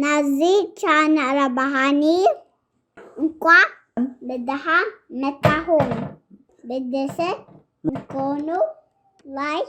ናዚ ቻናል ኣባሃኒ እንኳዕ ብደሓን መጣኹም ብደሰ ንኮኑ ላይክ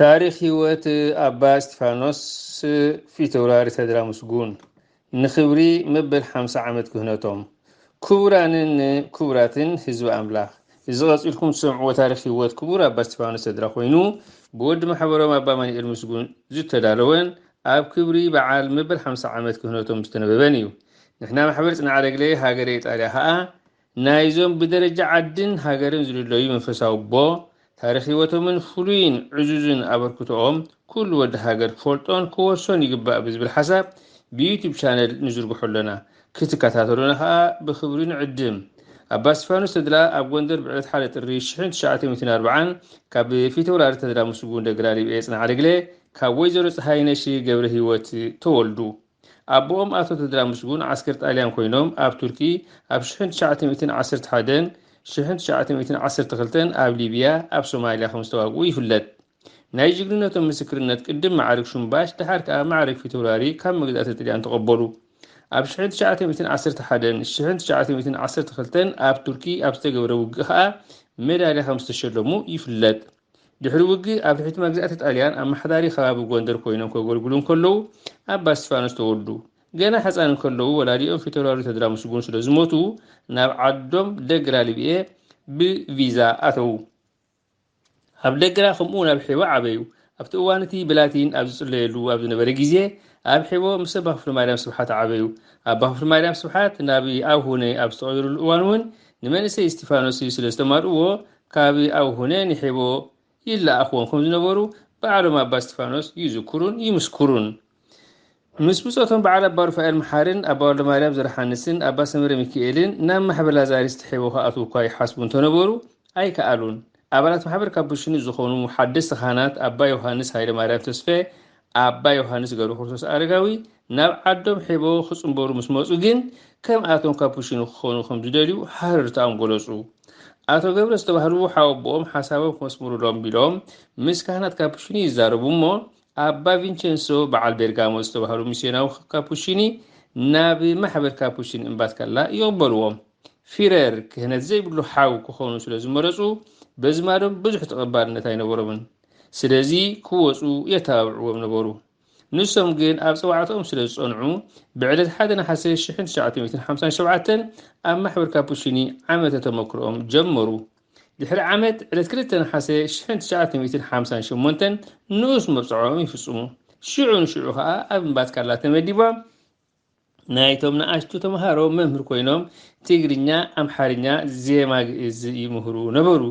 ታሪኽ ህይወት ኣባ እስጢፋኖስ ፊተውራሪ ተድላ ምስጉን ንኽብሪ መበል ሓምሳ ዓመት ክህነቶም። ክቡራንን ክቡራትን ህዝቢ ኣምላኽ እዚ ቀፂልኩም ትሰምዕዎ ታሪኽ ህይወት ክቡር ኣባ እስጢፋኖስ ተድላ ኮይኑ ብወዲ ማሕበሮም ኣባ ማንኤል ምስጉን ዝተዳለወን ኣብ ክብሪ በዓል መበል ሓምሳ ዓመት ክህነቶም ዝተነበበን እዩ። ንሕና ማሕበር ፅንዓለግለ ሃገረ ኢጣልያ ከዓ ናይዞም ብደረጃ ዓድን ሃገርን ዝልለዩ መንፈሳዊ ኣቦ፣ ታሪኽ ህይወቶምን ፍሉይን ዕዙዝን ኣበርክቶኦም ኩሉ ወዲ ሃገር ክፈልጦን ክወርሶን ይግባእ ብዝብል ሓሳብ ብዩቱብ ቻነል ንዝርግሖ ኣሎና። ክትከታተሉና ከኣ ብኽብሪ ንዕድም። ኣባ እስቲፋኖስ ተድላ ኣብ ጎንደር ብዕለት ሓደ ጥሪ ሽሕን ትሽዓተ ሚእትን ኣርብዓን ካብ ፊተውራሪ ተድላ ምስጉን ደግላ ሊብኤ ጽንዓደግለ ካብ ወይዘሮ ጸሃይነሽ ገብረሂወት ተወልዱ። ኣቦኦም ኣቶ ተድላ ምስጉን ዓስከር ጣልያን ኮይኖም ኣብ ቱርኪ ኣብ ሽሕን ትሽዓተ ሚእትን ዓሰርተ ሓደን ሽሕን ትሽዓተ ሚእትን ዓሰርተ ክልተን ኣብ ሊብያ ኣብ ሶማልያ ከም ዝተዋግኡ ይፍለጥ። ናይ ጅግንነቶም ምስክርነት ቅድም መዓርግ ሹምባሽ ደሓር ከኣ መዓርግ ፊተውራሪ ካብ መግዛእቲ ጥልያን ተቐበሉ። ኣብ ሽሕን ትሽዓተ ሚእትን ዓሰርተ ሓደን ሽሕን ትሽዓተ ሚእትን ዓሰርተ ክልተን ኣብ ቱርኪ ኣብ ዝተገብረ ውግእ ከኣ ሜዳልያ ከም ዝተሸለሙ ይፍለጥ። ድሕሪ ውግእ ኣብ ትሕቲ መግዛእቲ ጣልያን ኣመሓዳሪ ከባቢ ጎንደር ኮይኖም ከገልግሉ እንከለዉ ኣባ እስቲፋኖስ ተወልዱ። ገና ሕፃን እንከለዉ ወላዲኦም ፊተውራሪ ተድላ ምስጉን ስለ ዝሞቱ ናብ ዓዶም ደግራ ልብኤ ብቪዛ ኣተዉ። ኣብ ደግራ ከምኡውን ኣብ ሒቦ ዓበዩ። ኣብቲ እዋን እቲ ብላቲን ኣብ ዝጽለየሉ ኣብ ዝነበረ ግዜ ኣብ ሒቦ ምስ ኣባ ክፍለማርያም ስብሓት ዓበዩ። ኣባ ክፍለማርያም ስብሓት ናብ ኣቡነ ኣብ ዝተቐየሩሉ እዋን እውን ንመንእሰይ እስቲፋኖስ ስለ ዝተማልእዎ ካብ ኣብ ሁነ ንሔቦ ይለኣኽዎም ከም ዝነበሩ ባዕሎም ኣባ እስጢፋኖስ ይዝክሩን ይምስክሩን። ምስ ብጾቶም በዓል ኣባ ሩፋኤል መሓርን ኣባ ወልደማርያም ዘርሓንስን ኣባ ሰምረ ሚኪኤልን ናብ ማሕበር ላዛሪስት ሔቦ ክኣትዉ እኳ ይሓስቡ እንተነበሩ ኣይከኣሉን። ኣባላት ማሕበር ካብ ብሽኑ ዝኾኑ ሓደስቲ ካህናት ኣባ ዮሃንስ ሃይለማርያም ተስፌ፣ ኣባ ዮሃንስ ገብረክርስቶስ ኣረጋዊ ናብ ዓዶም ሒቦ ክጽንበሩ ምስ መጹ ግን ከም ኣቶም ካፑቺኖ ክኾኑ ከም ዝደልዩ ሃረርታኦም ገለጹ። ኣቶ ገብረ ዝተባህሉ ሓወቦኦም ሓሳቦም ክመስምሩሎም ቢሎም ምስ ካህናት ካፑቺኒ ይዛረቡ እሞ ኣባ ቪንቸንሶ በዓል ቤርጋሞ ዝተባህሉ ሚስዮናዊ ካፑቺኒ ናብ ማሕበር ካፑቺን እምባትካላ ይቕበልዎም። ፊረር ክህነት ዘይብሉ ሓው ክኾኑ ስለ ዝመረጹ በዝማዶም ብዙሕ ተቐባልነት ኣይነበሮምን። ስለዚ ክወጹ የተባብዕዎም ነበሩ። ንሶም ግን ኣብ ጸዋዕታኦም ስለ ዝጸንዑ ብዕለት ሓደ ነሓሰ ሽሕን ትሽዓተ ሚእትን ሓምሳን ሸውዓተን ኣብ ማሕበር ካፑቺኒ ዓመተ ተመክሮኦም ጀመሩ። ድሕሪ ዓመት ዕለት ክልተ ነሓሰ ሽሕን ትሽዓተ ሚእትን ሓምሳን ሸሞንተን ንኡስ መብጽዓኦም ይፍጽሙ። ሽዑ ንሽዑ ከኣ ኣብ እምባ ትካላ ተመዲቦም ናይቶም ንኣሽቱ ተምሃሮ መምህር ኮይኖም ትግርኛ፣ ኣምሓርኛ፣ ዜማ ግእዝ ይምህሩ ነበሩ።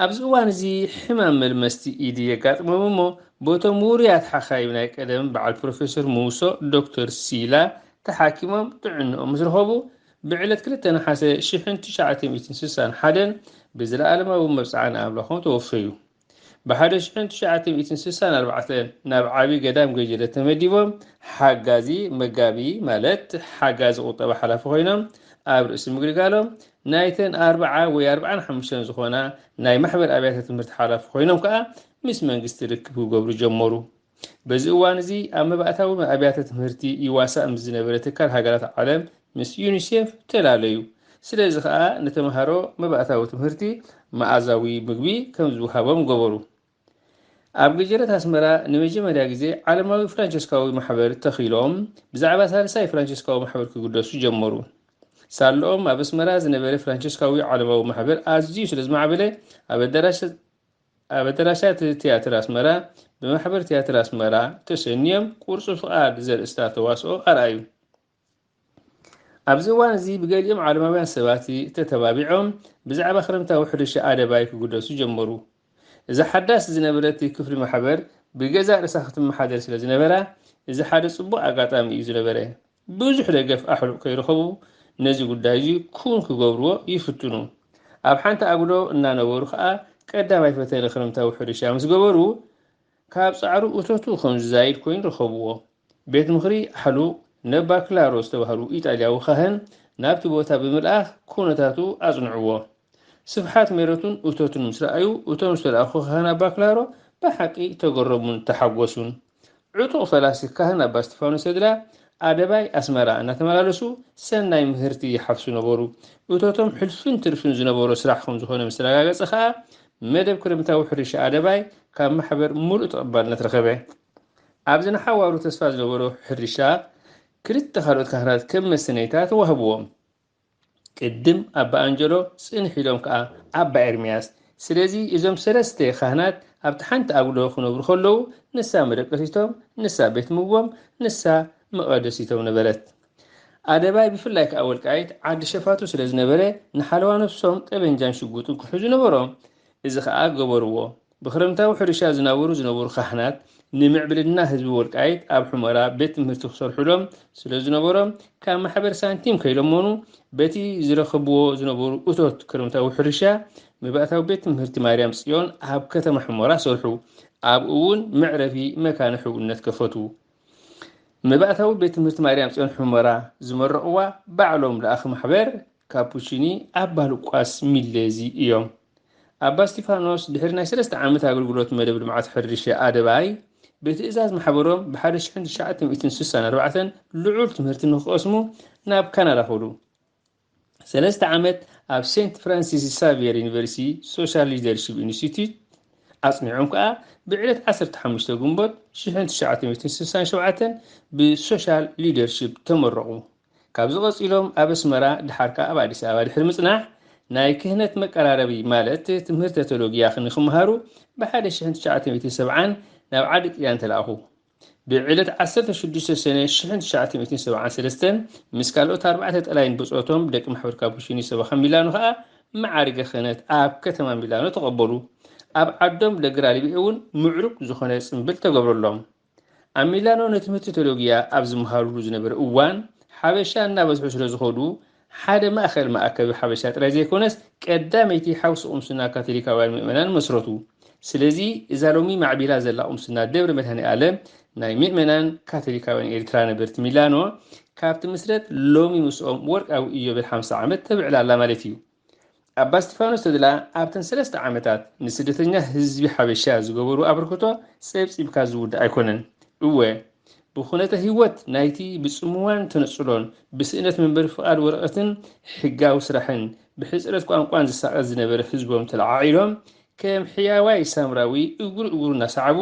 ኣብዚ እዋን እዚ ሕማም መልመስቲ ኢዲ የጋጥሞም እሞ ቦቶም ውሩያት ሓኻይም ናይ ቀደም በዓል ፕሮፌሰር ሙውሶ ዶክተር ሲላ ተሓኪሞም ጥዕንኦም ምስ ረኸቡ ብዕለት ክልተ ነሓሰ ሽሕን ትሽዓተ ሚእትን ስሳን ሓደን ብዘለኣለማዊ መብጽዓ ንኣምላኾም ተወፈዩ። ብ ሓደ ሽሕን ትሽዓተ ሚእትን ስሳን ኣርባዕተ ናብ ዓቢ ገዳም ገጀለ ተመዲቦም ሓጋዚ፣ መጋቢ፣ ማለት ሓጋዚ ቁጠባ ሓላፊ ኮይኖም ኣብ ርእሲ ምግልጋሎም፣ ናይተን ኣርብዓ ወይ ኣርብዓን ሓሙሽተን ዝኾና ናይ ማሕበር ኣብያተ ትምህርቲ ሓላፊ ኮይኖም ከኣ ምስ መንግስቲ ርክብ ክገብሩ ጀመሩ። በዚ እዋን እዚ ኣብ መባእታዊ ኣብያተ ትምህርቲ ይዋሳእ ምስ ዝነበረ ትካል ሃገራት ዓለም ምስ ዩኒሴፍ ተላለዩ። ስለዚ ከኣ ንተመሃሮ መባእታዊ ትምህርቲ መኣዛዊ ምግቢ ከም ዝውሃቦም ገበሩ። ኣብ ገጀረት ኣስመራ ንመጀመርያ ግዜ ዓለማዊ ፍራንቸስካዊ ማሕበር ተኺሎም ብዛዕባ ሳልሳይ ፍራንቸስካዊ ማሕበር ክግደሱ ጀመሩ። ሳለኦም ኣብ ኣስመራ ዝነበረ ፍራንቸስካዊ ዓለማዊ ማሕበር ኣዝዩ ስለ ዝማዕበለ ኣብ ኣዳራሽ ኣብ ኣደራሻት ትያትር ኣስመራ ብማሕበር ትያትር ኣስመራ ተሰንዮም ቁርጹ ፍቓድ ዘርእስታ ተዋስኦ ኣርኣዩ። ኣብዚ እዋን እዚ ብገሊኦም ዓለማውያን ሰባት ተተባቢዖም ብዛዕባ ክረምታዊ ሕርሻ ኣደባይ ክግደሱ ጀመሩ። እዛ ሓዳስ ዝነበረት ክፍሊ ማሕበር ብገዛእ ርእሳ ክትመሓደር ስለ ዝነበራ እዚ ሓደ ጽቡቕ ኣጋጣሚ እዩ ዝነበረ። ብዙሕ ደገፍ ኣሕሉቕ ከይረኸቡ ነዚ ጉዳይ እዚ ክዉን ክገብርዎ ይፍትኑ። ኣብ ሓንቲ ኣጕዶ እናነበሩ ከኣ ቀዳማይ ፈተነ ክረምታዊ ሕርሻ ምስ ገበሩ ካብ ጻዕሩ እቶቱ ከም ዝዛይድ ኮይኑ ረኸብዎ። ቤት ምኽሪ ኣሕሉቕ ነባ ክላሮ ዝተባህሉ ኢጣልያዊ ኻህን ናብቲ ቦታ ብምልኣኽ ኩነታቱ ኣጽንዕዎ። ስፍሓት ሜረቱን እቶቱን ምስ ረኣዩ እቶም ዝተላእኩ ኻህን ኣባ ክላሮ ብሓቂ ተገረሙን ተሓጐሱን። ዕጡቕ ፈላሲ ካህን ኣባ እስጢፋኖስ ተድላ ኣደባይ ኣስመራ እናተመላለሱ ሰናይ ምህርቲ ይሓፍሱ ነበሩ። እቶቶም ሕልፍን ትርፍን ዝነበሮ ስራሕ ከም ዝኾነ ምስ ተረጋገጸ ከኣ መደብ ክረምታዊ ሕርሻ ኣደባይ ካብ ማሕበር ምሉእ ተቐባልነት ረኸበ። ኣብዚ ንሓዋሩ ተስፋ ዝነበሮ ሕርሻ ክልተ ካልኦት ካህናት ከም መሰነይታ ተዋህብዎም። ቅድም ኣባ ኣንጀሎ ጽንሕ ኢሎም ከኣ ኣባ ኤርምያስ ስለዚ እዞም ሰለስተ ካህናት ኣብቲ ሓንቲ ኣጉዶ ክነብሩ ከለዉ ንሳ መደቀሲቶም ንሳ ቤት ምግቦም ንሳ መቐደሲቶም ነበረት። ኣደባይ ብፍላይ ከኣ ወልቃይት ዓዲ ሸፋቱ ስለዝነበረ ንሓለዋ ነፍሶም ጠበንጃን ሽጉጥን ክሕዙ ነበሮም እዚ ከኣ ገበርዎ። ብክረምታዊ ሕርሻ ዝናበሩ ዝነበሩ ካህናት ንምዕብልና ህዝቢ ወልቃይት ኣብ ሑመራ ቤት ትምህርቲ ክሰርሑሎም ስለ ዝነበሮም ካብ ማሕበር ሳንቲም ከይለመኑ በቲ ዝረኸብዎ ዝነበሩ እቶት ክረምታዊ ሕርሻ መባእታዊ ቤት ትምህርቲ ማርያም ጽዮን ኣብ ከተማ ሑመራ ሰርሑ። ኣብኡ እውን መዕረፊ መካነ ሕውነት ከፈቱ። መባእታዊ ቤት ትምህርቲ ማርያም ጽዮን ሑመራ ዝመረቕዋ ባዕሎም ለኣኽ ማሕበር ካፑቺኒ ኣባ ሉቃስ ሚሌዚ እዮም። ኣባ እስጢፋኖስ ድሕሪ ናይ ሰለስተ ዓመት ኣገልግሎት መደብ ልምዓት ሕርሻ ኣደባይ ብትእዛዝ ማሕበሮም ብሓደ ሽሕን ትሽዓተ ሚእትን ስሳን ኣርባዕተን ልዑል ትምህርቲ ንክቐስሙ ናብ ካናዳ ከዱ። ሰለስተ ዓመት ኣብ ሴንት ፍራንሲስ ሳቪየር ዩኒቨርሲቲ ሶሻል ሊደርሺፕ ኢንስቲትዩት ኣጽኒዖም ከኣ ብዕለት ዓሰርተ ሓሙሽተ ግንቦት ሽሕን ትሽዓተ ሚእትን ስሳን ሸውዓተን ብሶሻል ሊደርሺፕ ተመረቑ። ካብዚ ቀጺሎም ኣብ ኣስመራ ድሓር ከኣ ኣብ ኣዲስ ኣበባ ድሕሪ ምጽናሕ ናይ ክህነት መቀራረቢ ማለት ትምህርተ ተሎጊያ ንክመሃሩ ብ ሓደ ሽሕን ትሽዓተ ሚእትን ሰብዓን ናብ ዓዲ ጥልያን ተላእኩ። ብ ዕለት ዓሰርተ ሽዱሽተ ሰነ ሽሕን ትሽዓተ ሚእትን ሰብዓን ሰለስተን ምስ ካልኦት ኣርባዕተ ጠላይን ብጾቶም ደቂ ማሕበር ካፑቺኒ ሰበኻ ሚላኖ ከኣ መዓርገ ክህነት ኣብ ከተማ ሚላኖ ተቀበሉ። ኣብ ዓዶም ለግራሊቤ እውን ምዕሩግ ዝኾነ ጽምብል ተገብረሎም። ኣብ ሚላኖ ንትምህርቲ ቴሎጊያ ኣብ ዝመሃሩሉ ዝነበረ እዋን ሓበሻ እናበዝሑ ስለ ዝኸዱ ሓደ ማእከል መኣከቢ ሓበሻ ጥራይ ዘይኮነስ ቀዳመይቲ ሓውሲ ቁምስና ካቶሊካውያን ምእመናን መስረቱ። ስለዚ እዛ ሎሚ ማዕቢላ ዘላ ቁምስና ደብረ መድሃኔኣለም ናይ ምእመናን ካቶሊካውያን ኤርትራ ነበርቲ ሚላኖ ካብ ትምስረት ሎሚ ምስኦም ወርቃዊ ኢዮቤል ሓምሳ ዓመት ተብዕል ኣላ ማለት እዩ። ኣባ እስጢፋኖስ ተድላ ኣብተን ሰለስተ ዓመታት ንስደተኛ ህዝቢ ሓበሻ ዝገበሩ ኣበርክቶ ጸብጺብካ ዝውዳእ ኣይኮነን። እወ ብኩነተ ህይወት ናይቲ ብጽምዋን ተነጽሎን ብስእነት መንበሪ ፍቓድ ወረቐትን ሕጋዊ ስራሕን ብሕጽረት ቋንቋን ዝሳቐ ዝነበረ ህዝቦም ተለዓዒሎም ከም ሕያዋይ ሳምራዊ እግሩ እግሩ እናሰዓቡ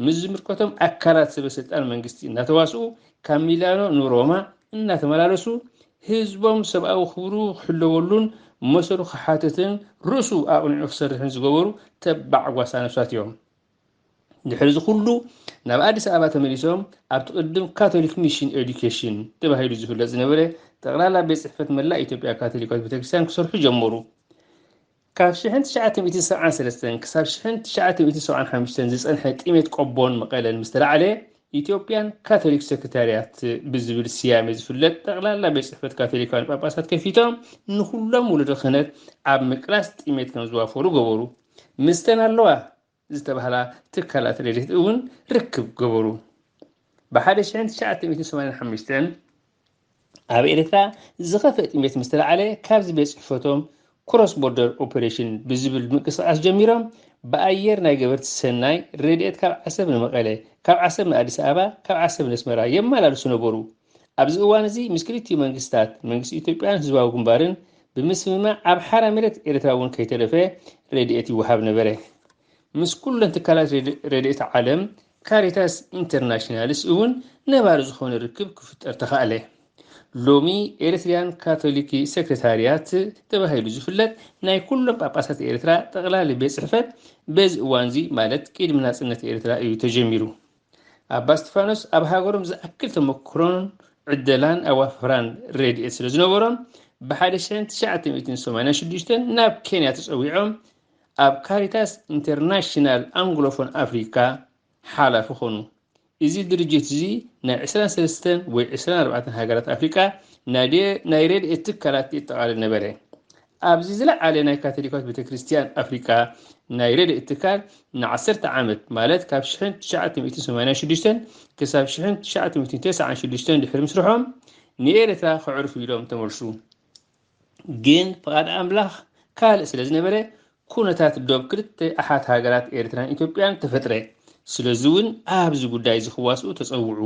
ምስ ዝምልከቶም ኣካላት ሰበ ስልጣን መንግስቲ እናተዋስኡ ካብ ሚላኖ ንሮማ እናተመላለሱ ህዝቦም ሰብኣዊ ክብሩ ክሕለወሉን መሰሉ ክሓትትን ርእሱ ኣቕኒዑ ክሰርሕን ዝገበሩ ተባዕ ጓሳ ነብሳት እዮም። ድሕሪ እዚ ኩሉ ናብ ኣዲስ ኣበባ ተመሊሶም ኣብቲ ቅድም ካቶሊክ ሚሽን ኤዱኬሽን ተባሂሉ ዝፍለጥ ዝነበረ ጠቕላላ ቤት ጽሕፈት መላእ ኢትዮጵያ ካቶሊካዊት ቤተክርስትያን ክሰርሑ ጀመሩ። ካብ ሽሕን ትሽዓተ ሚእትን ሰብዓን ሰለስተን ክሳብ ሽሕን ትሽዓተ ሚእትን ሰብዓን ሓምሽተን ዝጸንሐ ጥሜት ቆቦን መቐለን ምስ ተላዕለ፣ ኢትዮጵያን ካቶሊክ ሰክሪታርያት ብዝብል ስያሜ ዝፍለጥ ጠቕላላ ቤት ጽሕፈት ካቶሊካውያን ጳጳሳት ከፊቶም ንዅሎም ወለዶ ክህነት ኣብ ምቅላስ ጥሜት ከም ዝዋፈሩ ገበሩ። ምስተን ኣለዋ። ዝተባህላ ትካላት ረድኤት እውን ርክብ ገበሩ። ብ ሓደ ሽሕን ትሽዓተ ሚእትን ሰማንያን ሓሙሽተን ኣብ ኤርትራ ዝኸፍእ ጥሜት ምስ ተላዕለ ካብዚ ቤት ጽሕፈቶም ክሮስ ቦርደር ኦፐሬሽን ብዝብል ምንቅስቓስ ጀሚሮም ብኣየር ናይ ገበርቲ ሰናይ ረድኤት ካብ ዓሰብ ንመቐለ፣ ካብ ዓሰብ ንኣዲስ ኣበባ፣ ካብ ዓሰብ ነስመራ የመላልሱ ነበሩ። ኣብዚ እዋን እዚ ምስ ክልቲኡ መንግስታት፣ መንግስቲ ኢትዮጵያን ህዝባዊ ግንባርን፣ ብምስምማዕ ኣብ ሓራ መሬት ኤርትራ እውን ከይተረፈ ረድኤት ይወሃብ ነበረ። ምስ ኩለን ትካላት ረድኤት ዓለም፣ ካሪታስ ኢንተርናሽናልስ እውን ነባሪ ዝኾነ ርክብ ክፍጠር ተኻእለ። ሎሚ ኤርትርያን ካቶሊክ ሰክረታርያት ተባሂሉ ዝፍለጥ ናይ ኩሎም ጳጳሳት ኤርትራ ጠቕላሊ ቤት ጽሕፈት በዚ እዋንዚ ማለት ቅድሚ ናጽነት ኤርትራ እዩ ተጀሚሩ። ኣባ እስጢፋኖስ ኣብ ሃገሮም ዝኣክል ተመክሮን ዕደላን ኣዋፍራን ረድኤት ስለ ዝነበሮም ብሓደ ሽሕን ትሽዓተ ሚእትን ሰማንያን ሽዱሽተን ናብ ኬንያ ተጸዊዖም ኣብ ካሪታስ ኢንተርናሽናል ኣንግሎፎን ኣፍሪካ ሓላፊ ኾኑ። እዚ ድርጅት እዚ ናይ ዕስራን ሰለስተን ወይ ዕስራን ኣርባዕተን ሃገራት ኣፍሪቃ ናይ ረድኤት ትካላት የጠቓልል ነበረ። ኣብዚ ዝለዓለ ናይ ካቶሊካዊት ቤተክርስትያን ኣፍሪቃ ናይ ረድኤት ትካል ንዓሰርተ ዓመት ማለት ካብ ሽሕን ትሽዓተ ሚእትን ሰማንያን ሽዱሽተን ክሳብ ሽሕን ትሽዓተ ሚእትን ተስዓን ሽዱሽተን ድሕሪ ምስርሖም ንኤርትራ ከዕርፉ ኢሎም ተመልሱ። ግን ፍቓድ ኣምላኽ ካልእ ስለ ዝነበረ ኩነታት ዶብ ክልተ ኣሓት ሃገራት ኤርትራን ኢትዮጵያን ተፈጥረ። ስለዚ እውን ኣብዚ ጉዳይ እዚ ክዋስኡ ተጸውዑ።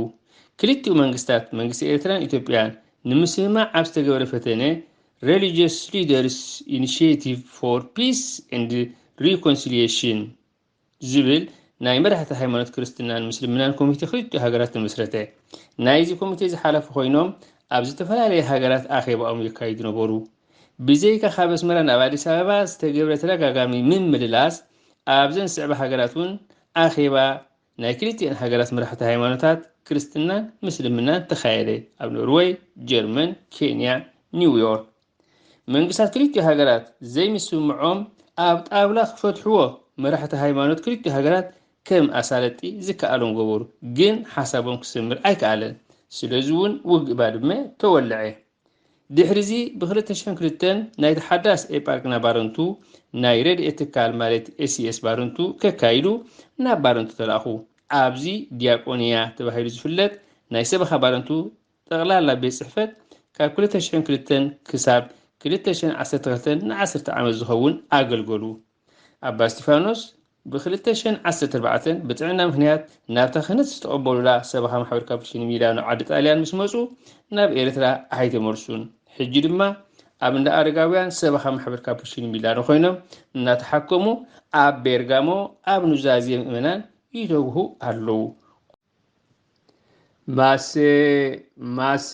ክልቲኡ መንግስታት መንግስቲ ኤርትራን ኢትዮጵያን ንምስምማዕ ኣብ ዝተገበረ ፈተነ Religious Leaders Initiative for Peace and Reconciliation ዝብል ናይ መራሕቲ ሃይማኖት ክርስትናን ምስልምናን ኮሚቴ ክልቲኡ ሃገራት ተመስረተ። ናይዚ ኮሚቴ እዚ ሓላፊ ኮይኖም ኣብ ዝተፈላለየ ሃገራት ኣኼባኦም የካይዱ ነበሩ። ብዘይካ ካብ ኣስመራ ናብ ኣዲስ ኣበባ ዝተገብረ ተደጋጋሚ ምምልላስ ኣብዘን ዝስዕባ ሃገራት እውን ኣኼባ ናይ ክልቲኤን ሃገራት መራሕቲ ሃይማኖታት ክርስትናን ምስልምናን ተኻየደ፣ ኣብ ኖርወይ፣ ጀርመን፣ ኬንያ፣ ኒውዮርክ። መንግስታት ክልቲኡ ሃገራት ዘይምስምምዖም ኣብ ጣብላ ክፈትሕዎ መራሕቲ ሃይማኖት ክልቲኡ ሃገራት ከም ኣሳለጢ ዝከኣሎም ገበሩ፣ ግን ሓሳቦም ክሰምር ኣይከኣለን። ስለዚ እውን ውግእ ባድመ ተወለዐ። ድሕሪዚ ብ ክልተ ሽሕን ክልተን ናይቲ ሓዳስ ኤጳርቅና ባረንቱ ናይ ረድኤት ትካል ማለት ኤስኤስ ባረንቱ ከካይዱ ናብ ባረንቱ ተላእኹ። ኣብዚ ዲያቆንያ ተባሂሉ ዝፍለጥ ናይ ሰበኻ ባረንቱ ጠቕላላ ቤት ጽሕፈት ካብ ክልተ ሽሕን ክልተን ክሳብ ክልተ ሽሕን ዓሰርተ ክልተን ንዓሰርተ ዓመት ዝኸውን ኣገልገሉ። ኣባ እስጢፋኖስ ብ ክልተ ሽሕን ዓሰርተ ኣርባዕተን ብጥዕና ምኽንያት ናብታ ክህነት ዝተቐበሉላ ሰበኻ ማሕበር ካፑቺን ሚላኖ ዓዲ ጣልያን ምስ መጹ ናብ ኤርትራ ኣይተመልሱን። ሕጂ ድማ ኣብ እንዳ ኣረጋውያን ሰበኻ ማሕበር ካፑቺን ሚላኖ ኮይኖም እናተሓከሙ ኣብ ቤርጋሞ ኣብ ኑዛዜ ምእመናን ይተግሁ ኣለዉ። ማሰ ማሰ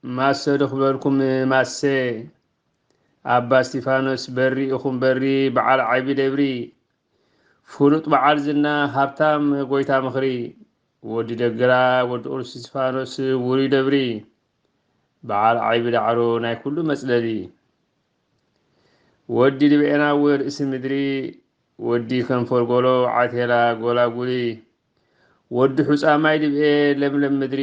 ማሰ ዶ ክብለልኩም ማሰ ኣባ እስቲፋኖስ በሪ ኢኹም በሪ በዓል ዓይቢ ደብሪ ፍሉጥ በዓል ዝና ሃብታም ጎይታ ምኽሪ ወዲ ደግራ ወዲ ቁዱስ እስቲፋኖስ ውሩይ ደብሪ በዓል ዓይቢ ዳዕሮ ናይ ኩሉ መጽለሊ ወዲ ድብኤናዊ ርእሲ ምድሪ ወዲ ከንፈር ጎሎ ዓቴላ ጎላጉሊ ወዲ ሑፃ ማይ ድብኤ ለምለም ምድሪ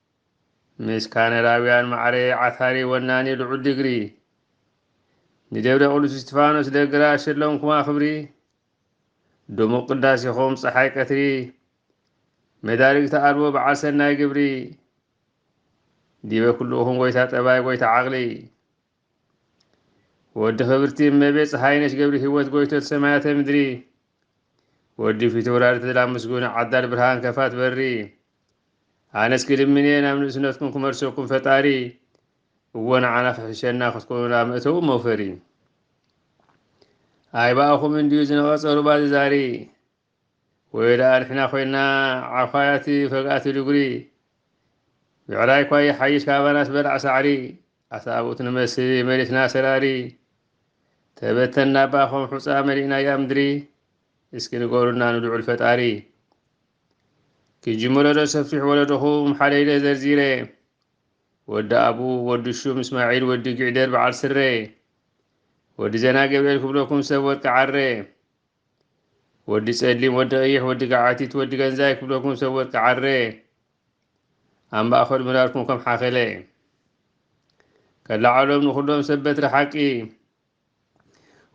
ምስ ካነዳውያን ማዕረ ዓታሪ ወናኒ ልዑል ዲግሪ። ንደብረ ቅዱስ እስጢፋኖስ ደግራ ሸለምኩማ ክብሪ ድሙቕ ቅዳሴኹም ፀሓይ ቀትሪ መዳርግቲ ኣልቦ በዓል ሰናይ ግብሪ ዲበ ኩልኡኹም ጎይታ ጠባይ ጎይታ ዓቕሊ ወዲ ክብርቲ እመቤት ፀሓይነሽ ገብርሂወት ጎይቶት ሰማያተ ምድሪ ወዲ ፊተውራሪ ተድላ ምስጉን ዓዳል ብርሃን ከፋት በሪ ኣነስ ክልምንየ ናብ ንእስነትኩም ክመልሰኩም ፈጣሪ እዎ ንዓና ክሕሸና ክትኮኑና መእተዊ መውፈሪ ኣይባእኹም እንድዩ ዝነቐፀ ሩባ ዝዛሪ ወይለኣ ንሕና ኮይና ዓዃያት ፈግኣት ድጉሪ ብዕራይኳ ይሓይሽ ካባናስ በላዕ ሳዕሪ ኣሳብኡት ንመስል መሬትና ሰራሪ ተበተና ባኾም ሑፃ መሊእናያ ምድሪ እስኪ ንገሩና ንልዑል ፈጣሪ ክጅምሮ ዶ ሰፊሕ ወለዶኹም ሓደይደ ዘርዚረ ወዲ ኣቡ ወዲ ሹም እስማዒል ወዲ ጊዕደር በዓል ስረ ወዲ ዘና ገብርኤል ክብለኩም ሰብ ወርቂ ዓረ ወዲ ጸሊም ወዲ ቀይሕ ወዲ ገዓቲት ወዲ ገንዛይ ክብለኩም ሰብ ወርቂ ዓረ ኣብ ማእኸል ምራርኩም ከም ሓኸለ ከላዓሎም ንኹሎም ሰብ በትሪ ሓቂ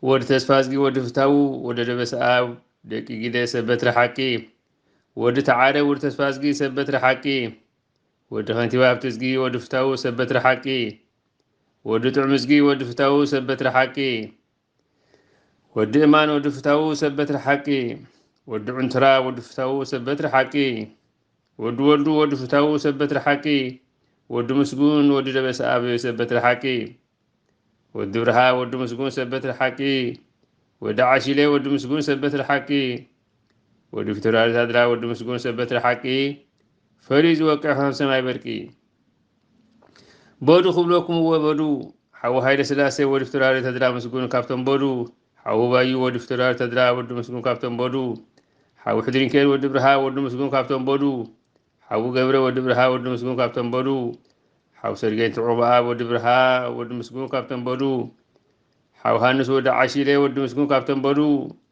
ወዲ ተስፋዝጊ ወዲ ፍታዉ ወዲ ደበሰኣብ ደቂ ጊደ ሰብ በትሪ ሓቂ ወዲ ተዓረ ወዲ ተስፋዝጊ ሰብ በትሪ ሓቂ ወዲ ከንቲባ ሃብተዝጊ ወዲ ፍታዉ ሰብ በትሪ ሓቂ ወዲ ጥዑምዝጊ ወዲ ፍታዉ ሰብ በትሪ ሓቂ ወዲ እማን ወዲ ፍታዉ ሰብ በትሪ ሓቂ ወዲ ዑንትራ ወዲ ፍታዉ ሰብ በትሪ ሓቂ ወዲ ወልዱ ወዲ ፍታዉ ሰብ በትሪ ሓቂ ወዲ ምስጉን ወዲ ደበሰኣብ ሰብ በትሪ ሓቂ ወዲ ብርሃ ወዲ ምስጉን ሰብ በትሪ ሓቂ ወዲ ዓሺሌ ወዲ ምስጉን ሰብ በትሪ ሓቂ ወዲ ፊቶራሪ ታድላ ወዲ ምስጉን ሰብ በትሪ ሓቂ ፈርዩ ዝወቅዕ ከም ሰማይ በርቂ በዱ ክብለኩም እወ በዱ ሓዊ ሃይለ ስላሴ ወዲ ፊቶራሪ ተድላ ምስጉን ካብቶም በዱ ሓዊ ባዩ ወዲ ፊቶራሪ ተድላ ወዲ ምስጉን ካብቶም በዱ ሓዊ ሕድሪንኬን ወዲ ብርሃ ወዲ ምስጉን ካብቶም በዱ ሓዊ ገብረ ወዲ ብርሃ ወዲ ምስጉን ካብቶም በዱ ሓዊ ሰርጌን ትዑባኣ ወዲ ብርሃ ወዲ ምስጉን ካብቶም በዱ ሓዊ ሃንስ ወዲ ዓሺለ ወዲ ምስጉን ካብቶም በዱ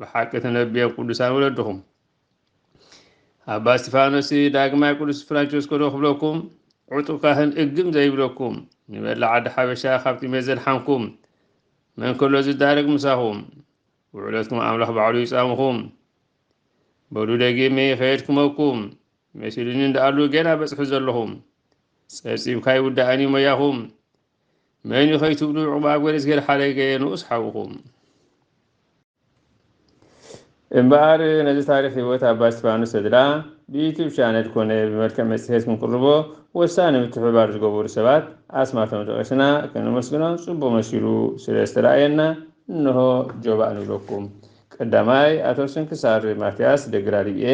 ብሓቂ ተነብዮም ቅዱሳን ወለድኹም። ኣባ እስጢፋኖስ ዳግማይ ቅዱስ ፍራንቸስኮ ዶ ክብለኩም ዕጡቅ ካህን እግም ዘይብለኩም ንመላእ ዓዲ ሓበሻ ካብ ጥሜት ዘድሓንኩም መን ከሎ ዝዳረግ ምሳኹም ውዕለትኩም ኣምላኽ ባዕሉ ይጻምኹም በሉ ደጊመ ይኸየድ ክመኩም መሲሉኒ እንዳኣሉ ገና በጽሑ ዘለኹም ጸብጺብካ ይውዳእን እዩ ሞያኹም መን እዩ ከይትብሉ ዕቁባ ገብረእግዚኣብሔር ሓረገየ ንኡስ ሓውኹም እምበኣር ነዚ ታሪክ ህይወት ኣባ እስጢፋኖስ ተድላ ብዩቱብ ቻነል ኮነ ብመልክዕ መጽሔት ክንቅርቦ ወሳኒ ምትሕብባር ዝገበሩ ሰባት ኣስማቶም ጠቒስና ከነመስግኖም ጽቡቕ መሲሉ ስለ ዝተረኣየና እንሆ ጆባእ ንብለኩም። ቀዳማይ ኣቶ ስንክሳር ማትያስ ደግራ ሊብኤ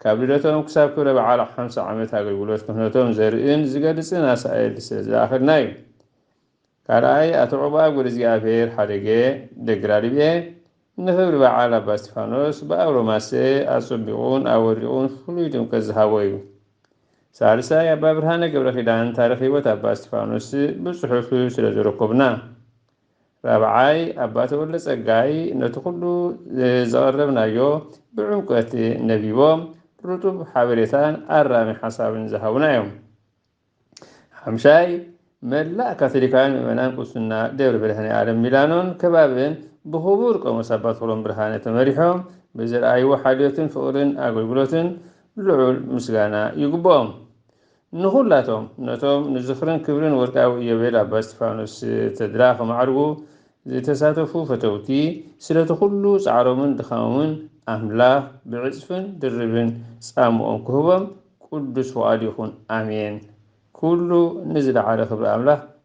ካብ ልደቶም ክሳብ ክብረ በዓል ሓምሳ ዓመት ኣገልግሎት ክህነቶም ዘርእን ዝገልጽን ኣሳእል ስለ ዝለኣኸልና እዩ። ካልኣይ ኣቶ ዑቕባብ ገብረእግዚኣብሄር ሓደገ፣ ደግራልብኤ፣ ንኽብሪ በዓል ኣባ እስጢፋኖስ ብኣውሮ ማሰ ኣጸቢቑን ኣወሪቑን ፍሉይ ድምቀት ዝሃቦ እዩ። ሳልሳይ ኣባ ብርሃነ ገብረኪዳን ታሪኽ ሕይወት ኣባ እስጢፋኖስ ብጽሑፍ ስለ ዘረከቡና። ራብዓይ፣ ኣባ ተወልደጸጋይ ነቲ ኩሉ ዘቐረብናዮ ብዕምቆት ነቢቦም ርጡብ ሓበሬታን ኣራሚ ሓሳብን ዝሃቡና እዮም። ሓምሻይ፣ መላእ ካቶሊካውያን ምእመናን ቁስና ደብረ መድኃኔዓለም ሚላኖን ከባቢእን ብክቡር ቆሞስ ኣባ ተኽሎም ብርሃነ ተመሪሖም ብዘርኣይዎ ሓልዮትን ፍቕርን ኣገልግሎትን ልዑል ምስጋና ይግብኦም። ንኹላቶም ነቶም ንዝኽርን ክብርን ወርቃዊ ኢዮቤል ኣባ እስጢፋኖስ ተድላ ክማዕርጉ ዝተሳተፉ ፈተውቲ፣ ስለቲ ኩሉ ጻዕሮምን ድኻሞምን ኣምላኽ ብዕጽፍን ድርብን ጻምኦም ክህቦም ቅዱስ ፍቓዱ ይኹን። ኣሜን። ኩሉ ንዝለዓለ ክብሪ ኣምላኽ